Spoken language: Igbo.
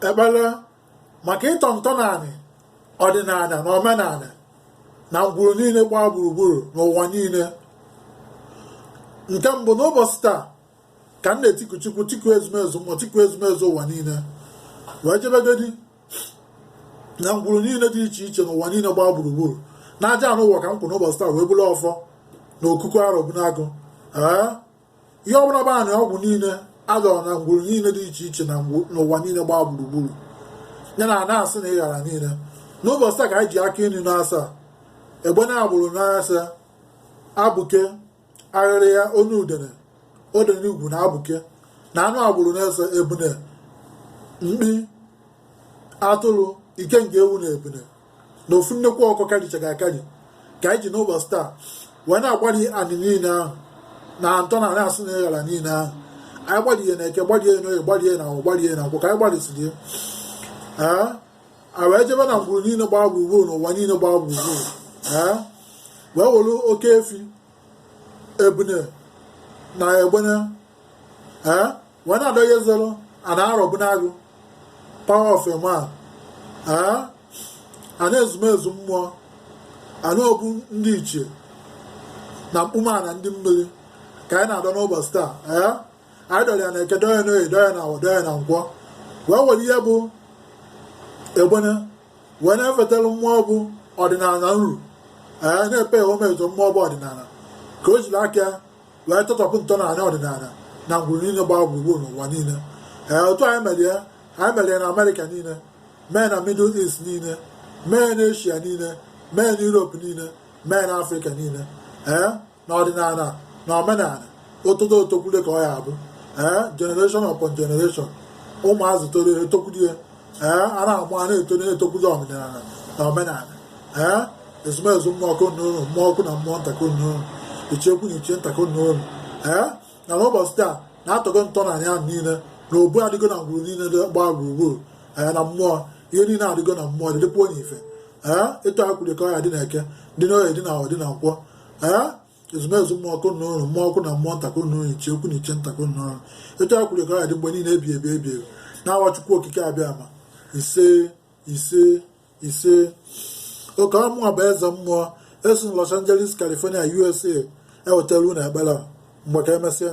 ekpere maka ịtọ ntọnaanị ọdịnala na omenala na ngwuru niile gbaa gburugburu n'ụwa niile nke mbụ n'ụbọchị taa ka m na-etiku chukwu tiku ezumezu mmụọ tiku ezumezu ụwa niile wee jebegodi na ngwuru niile dị iche iche n'ụwa niile gbaa gburugburu na aja ana ụwa ka m kwụ n'ụbọchị taa wee buru ọfọ na okuku arọbụnagụ ee ihe ọbụla bụ anị ọgwụ niile a dọrọ na ngwuru niile dị iche iche n'ụwa niile gbaa gburugburu ya na ana asị na ịghara niile n'ụbọchị taa ka anyị ji aka iri na asaa egbene agbụrụ na ise abụke arịrịa onu udene odene ugwu na abụke na anụ agbụrụ na ise ebune mkpi atụrụ ikenga ewu na ebune na ofu nnekwu ọkụ karichara akari ka anyị ji n'ụbọchị taa wee na-agbari anị niile ahụ na ntọ na asị na ịghara niile ahụ anyị gbarie na eke gbarie na oye gbarie na awọ gbarie na nkwọ ka anyị gbarisiri ee a wee jebe na ngwuru niile gbaa gburugburu n'ụwa niile gbaa gburugburu ee wee were oke efi ebune na egbene ee wee na-adọyeziri ana arọbụnagụ power of a man ee ana ezumezu mmụọ ana obu ndị ichie na mkpume ana ndị mmiri ka anyị na-adọ n'ụbọchị taa ee anyị dọrọ ya na eke dọọ ya na oye dọọ ya na awọ dọọ ya na nkwọ wee were ihe bụ egbene wee na-efetara mmụọ bụ ọdịnala nru ee na-epe ya omezo mmụọ bụ ọdịnala ka o jiri aka ya wee tọtọpụ ntọala ọdịnala na ngwuru niile gbaa gburugburu n'ụwa niile ee otu anyị mere ya anyị mere ya na amerịka niile mee na middle east niile mee na eshia niile mee na europe niile mee na afrịka niile ee na ọdịnala na omenala otodo otokwule ka ọ ya abụ ee generation upon generation ụmụazụ toro etokwulie ee a na-amụ a na-eto na-etokwuzi ọdịnala na omenala ee ezumezu mmụọ ka unu nụrụ mmụọ ukwu na mmụọ nta ka unu nụrụ ichie ukwu na ichie nta ka unu nụrụ ee na n'ụbọchị taa na atọgo ntọana ya niile na obu adịgo na ngwuru niile dị gbaa gburugburu ee na mmụọ ihe niile adịgo na mmụọ dịdịpụ onye ife ee etu e kwuru ka ọ ya adị na eke dị na oye dị na awọ dị na nkwọ ee ezumezu mmụọ ka unu nụrụ mmụọ ukwu na mmụọ nta ka unu nụrụ ichie ukwu na ichie nta ka unu nụrụ etu e kwuru ka ọ ya adị mgbe niile ebi ebi ebi ebi na awa chukwu okike abịama ise ise ise ọ kwa mụnwa bụ eze mmụọ esi na Los Angeles California USA ewetara unu ekpere mgbe ka emesịa